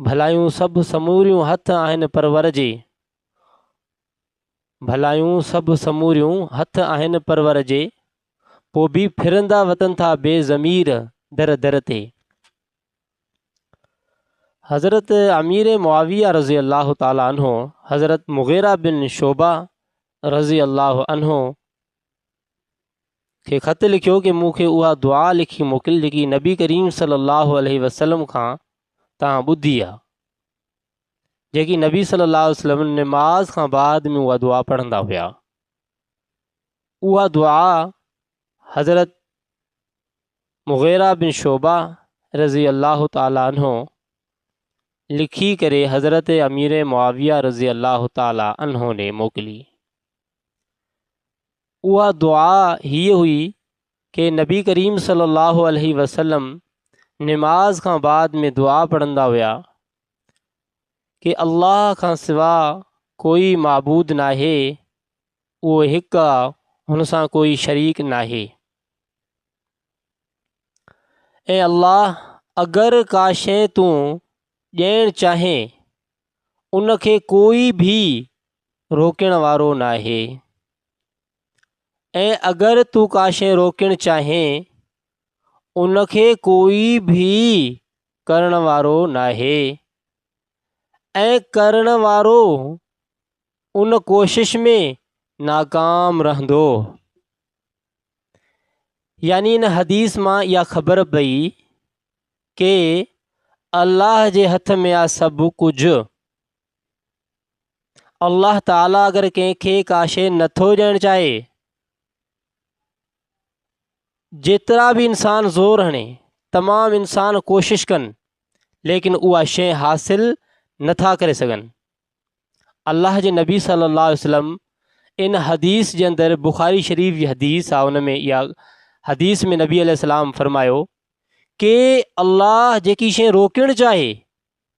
ڀلايون سڀ سموريون هٿ آهن پرور جي. ڀلايون سڀ سموريون هٿ آهن پرور جي. پو به ڦرندا وتن ٿا بي ضمير در در تي. حضرت امير معاويه رضي الله تعالٰي عنه حضرت مغيره بن شعبه رضي الله عنه کي خط لکيو ڪي مون کي اها دعا لکي موڪل جيڪي نبي ڪريم صلي الله عليه وسلم کان تان ٻڌي آ جيڪي نبي صلي الله عليه وسلم نماز کان بعد ۾ اها دعا پڙهندا هيا اها دعا حضرت مغيرا بن شعبا رضي الله تعالي عنه لکي ڪري حضرت امير معاويه رضي الله تعالي عنه ني موڪلي اها دعا هيء هئي ڪي نبي ڪريم صلي الله عليه وسلم نماز کان بعد ۾ دعا پڙهندا هيا ڪي الله کان سوا ڪوئي معبود ناهي اهو هڪ آ هن سان ڪوئي شريڪ ناهي اي الله اگر ڪا شي تون ڏيڻ چاهين ان کي ڪوئي ڀي روڪڻ وارو ناهي ۽ اگر تون ڪا شيء روڪڻ چاهين ان کي ڪوئي به ڪرڻ وارو ناهي ۽ ڪرڻ وارو ان ڪوشش ۾ ناڪام رهندو يعني ان حديث مان اها خبر پئي ڪي الله جي هٿ ۾ آ سڀ ڪجهه الله تعالي اگر ڪنهن کي ڪا شيء نٿو ڏيڻ چاهي جيترا به انسان زور هڻي تمام انسان ڪوشش ڪن ليڪن اها شيء حاصل نٿا ڪري سگهن الله جي نبي صلي الله عليه وسلم ان حديث جي اندر بخاري شريف جي حديث آ ان ۾ اها حديث ۾ نبي عليه السلام فرمايو ڪي الله جيڪي شيء روڪڻ چاهي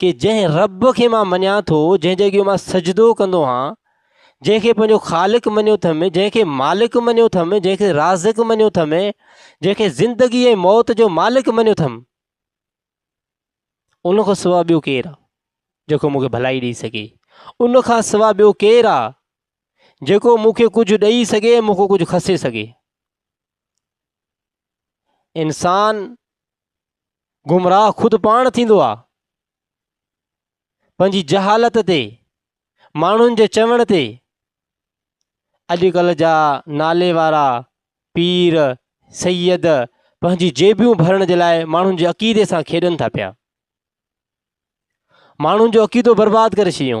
ڪي جنهن رب کي مان مڃان ٿو، جنهن جي اڳيان مان سجدو ڪندو آهيان، جنهن کي پنهنجو خالق مڃيو ٿم، جنهن کي مالڪ مڃيو ٿم، جنهن کي رازق مڃيو ٿم، جنهن کي زندگي ۽ موت جو مالڪ مڃيو ٿم، ان کان سواء ٻيو ڪير آ جيڪو مون کي ڀلائي ڏيئي سگهي؟ ان کان سواء ٻيو ڪير آ جيڪو مون کي ڪجهه ڏيئي سگهي ۽ مون کان ڪجهه کسي سگهي؟ انسان گمراهه خود پاڻ ٿيندو آهي پنهنجي جهالت تي ماڻهن جي چوڻ تي اڄڪلهه جا نالي وارا پير سيد پنهنجي جيبيون ڀرڻ جي لاء ماڻهن جي عقيدي سان کيڏن ٿا پيا ماڻهن جو عقيدو برباد ڪري ڇڏيو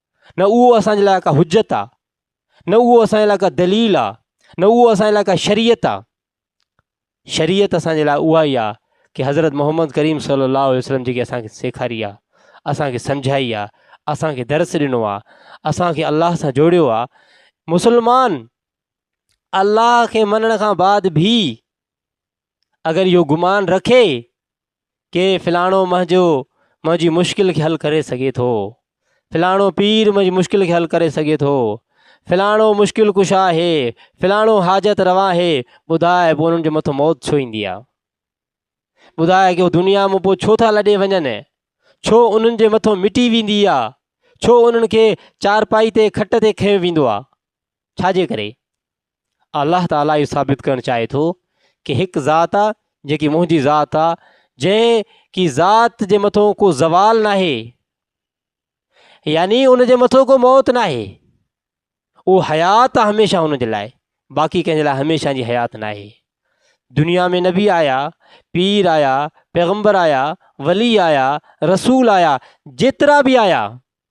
نه اهو اسان جي لاء ڪا حجت آ نه اهو اسان جي لاء ڪا دليل آ نه اهو اسان جي لاء ڪا شريعت آ شريعت اسان جي لاء اها ئي آ ڪي حضرت محمد ڪريم صلي الله عليه وسلم جيڪي اسان کي سيکاري آ اسان کي سمجهائي آ اسان کي درس ڏنو آ اسان کي الله سان جوڙيو آ مسلمان الله کي مڃڻ کان بعد ڀي اگر اهو گمان رکي ڪي فلاڻو منهنجو منهنجي مشڪل کي حل ڪري سگهي ٿو، فلاڻو پير منهنجي مشڪل کي حل ڪري سگهي ٿو، فلاڻو مشڪل ڪشا آهي، فلاڻو حاجت روا آهي، ٻڌاء پوء انهن جي مٿو موت ڇو ايندي آهي؟ ٻڌاء ڪي هو دنيا مون پوء ڇو ٿا لڏي وڃن؟ ڇو انهن جي مٿو مٽي ويندي آهي؟ ڇو انهن کي چارپائي تي کٽ تي کنيو ويندو آهي؟ ڇا جي ڪري؟ الله تعالي اهو ثابت ڪرڻ چاهي ٿو ڪي هڪ ذات آ جيڪي منهنجي ذات آ جنهن ڪي ذات جي مٿو ڪو زوال ناهي يعني ان جي مٿو ڪو موت ناهي اهو حيات آ هميشه ان جي لاء باقي ڪنهن جي لاء هميشه جي حيات ناهي دنيا ۾ نبي آيا پير آيا پيغمبر آيا ولي آيا رسول آيا جيترا به آيا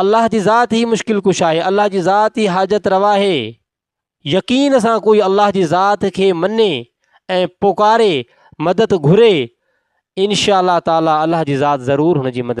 الله جي ذات هي مشڪل ڪش آهي الله جي ذات هي حاجت روا آهي يقين سان ڪوئي الله جي ذات کي مني ۽ پڪاري مدد گهري انشاء الله تعالي الله جي ذات ضرور هن جي مدد